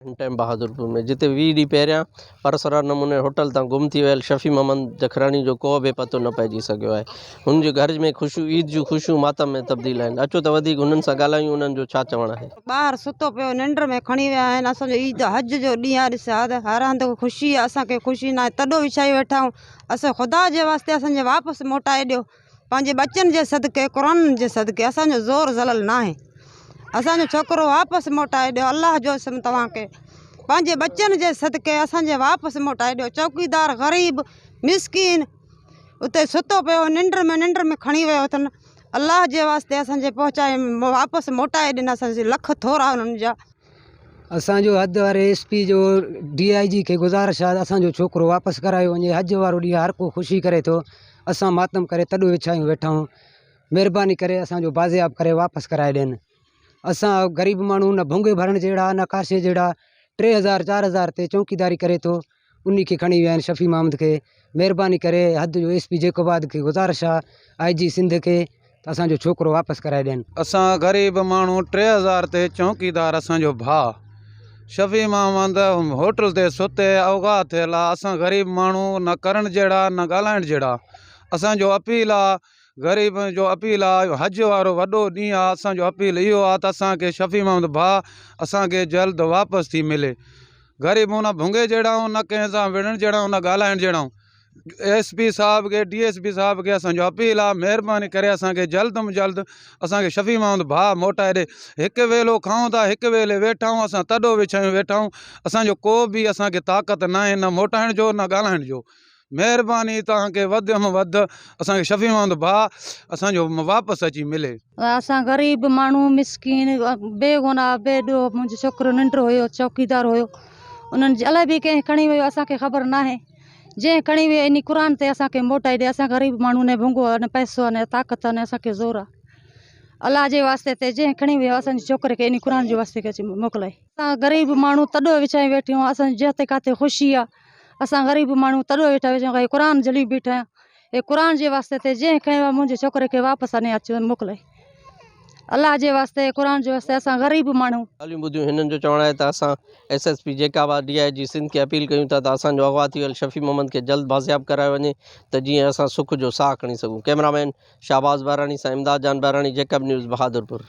ان time Bahadurpur ۾ جتي ويهه ڏينهن پهريان پراسرار نموني هوٽل تان گم ٿي ويل شفيع محمد جکراڻي جو ڪو به پتو نه پئجي سگهيو آهي. هن جي گهر ۾ خوشيون عيد جون خوشيون ماتم ۾ تبديل آهن. اچو ته وڌيڪ هنن سان ڳالهايون انهن جو ڇا چوڻ آهي. ٻاهر ستو پيو ننڊ ۾ کڻي ويا آهن اسان جو عيد حج جو ڏينهن آهي ڏس هر هر هنڌ خوشي آهي اسان کي خوشي ناهي تڏو وڇايو ويٺا آهيون اسان کي خدا جي واسطي اسان جي واپس موٽائي ڏيو. پنهنجي ٻچن جي صدقي قرآن جي صدقي اسان جو زور زلل ناهي اسان جو ڇوڪرو واپس موٽائي ڏيو الله جو اسم توهان کي پنهنجي ٻچن جي صدقي اسان جي واپس موٽائي ڏيو چوڪيدار غريب مسڪين اتي ستو پيو ننڊ ۾ ننڊ ۾ کڻي ويو اٿن الله جي واسطي اسان جي پهچائي واپس موٽائي ڏين اسان جي لک ٿورا انهن جا اسان جو حد واري ايس پي جو ڊي آء جي کي گذارش آ ته اسان جو ڇوڪرو واپس ڪرايو وڃي حج وارو ڏينهن هر ڪو خوشي ڪري ٿو اسان ماتم ڪري تڏو وڇايون ويٺا آهيون مهرباني ڪري اسان جو بازياب ڪري واپس ڪرائي ڏين اسان غريب ماڻهو نه ڀونگي ڀرڻ جهڙا نه ڪاشي جهڙا ٽي هزار چار هزار تي چونڪيداري ڪري ٿو انهي کي کڻي ويا آهن شفيع محمد کي مهرباني ڪري حد جو ايس پي جيڪب آباد کي گذارش آ آئي جي سنڌ کي ته اسان جو ڇوڪرو واپس ڪرائي ڏين. اسان غريب ماڻهو ٽي هزار تي چونڪيدار اسان جو ڀاء شفيع محمد هوٽل تي ستي اوغاء ٿيل آ اسان غريب ماڻهو نه ڪرڻ جهڙا نه ڳالهائڻ جهڙا اسان جو اپيل آ غريبن جو اپيل آ جو حج وارو وڏو ڏينهن آ اسان جو اپيل اهو آ ته اسان کي شفيع محمد ڀاء اسان کي جلد واپس ٿي ملي غريبون نه ڀونگي جهڙائون نه ڪنهن سان وڙهڻ جهڙائون نه ڳالهائڻ جهڙائون ايس پي صاحب کي ڊي ايس پي صاحب کي اسان جو اپيل آ مهرباني ڪري اسان کي جلد م جلد اسان کي شفيع محمد ڀاء موٽائي ڏي هڪ ويلو کائون ٿا هڪ ويلي ويٺا آهيون اسان تڏو وڇايون ويٺا آهيون اسان جو ڪو به اسان کي طاقت ناهي نه موٽائڻ جو نه ڳالهائڻ جو مھرباني توھان کي وڌ م وڌ اسان کي شفي مند ڀاء اسان جو واپس اچي ملي. اسان غريب ماڻھو مسڪين بي گناھ بي ڏوھ منھنجو ڇوڪرو ننڊ ھيو چوڪيدار ھيو انھن جي الائي به ڪنھن کڻي ويو اسان کي خبر ناھي جنھن کڻي ويو انھي قرآن تي اسان کي موٽائي ڏي اسان غريب ماڻھو ني ڀونگو ھا ني پئسو ھا ني طاقت ھا ني اسان کي زور ھا الله جي واسطي تي جنھن کڻي ويو اسان جي ڇوڪري کي انھي قرآن جي واسطي کي اچي موڪلائي اسان غريب ماڻھو تڏو وڇائي ويٺيون اسان جي جتي ڪاتي خوشي ھا. اسان غريب ماڻهو تڏو ويٺا آهيون ڪي قرآن جھلي بيٺا آهيون اي قرآن جي واسطي تي جنهن کڻيو آهي منهنجي ڇوڪري کي واپس آڻي اچي موڪلي الله جي واسطي قرآن جي واسطي اسان غريب ماڻهو ڳالهيون ٻڌيون هنن جو چوڻ آهي ته اسان ايس ايس پي جيڪاب آر ڊي آء جي سنڌ کي اپيل ڪيون ٿا ته اسان جو اغوا ٿي ويل شفيع محمد کي جلد بازياب ڪرايو وڃي ته جيئن اسان سک جو ساهه کڻي سگهون ڪئميرا مين شهباز ٻهراڻي سان امداد جان ٻهراڻي جيڪب نيوز بهادرپور.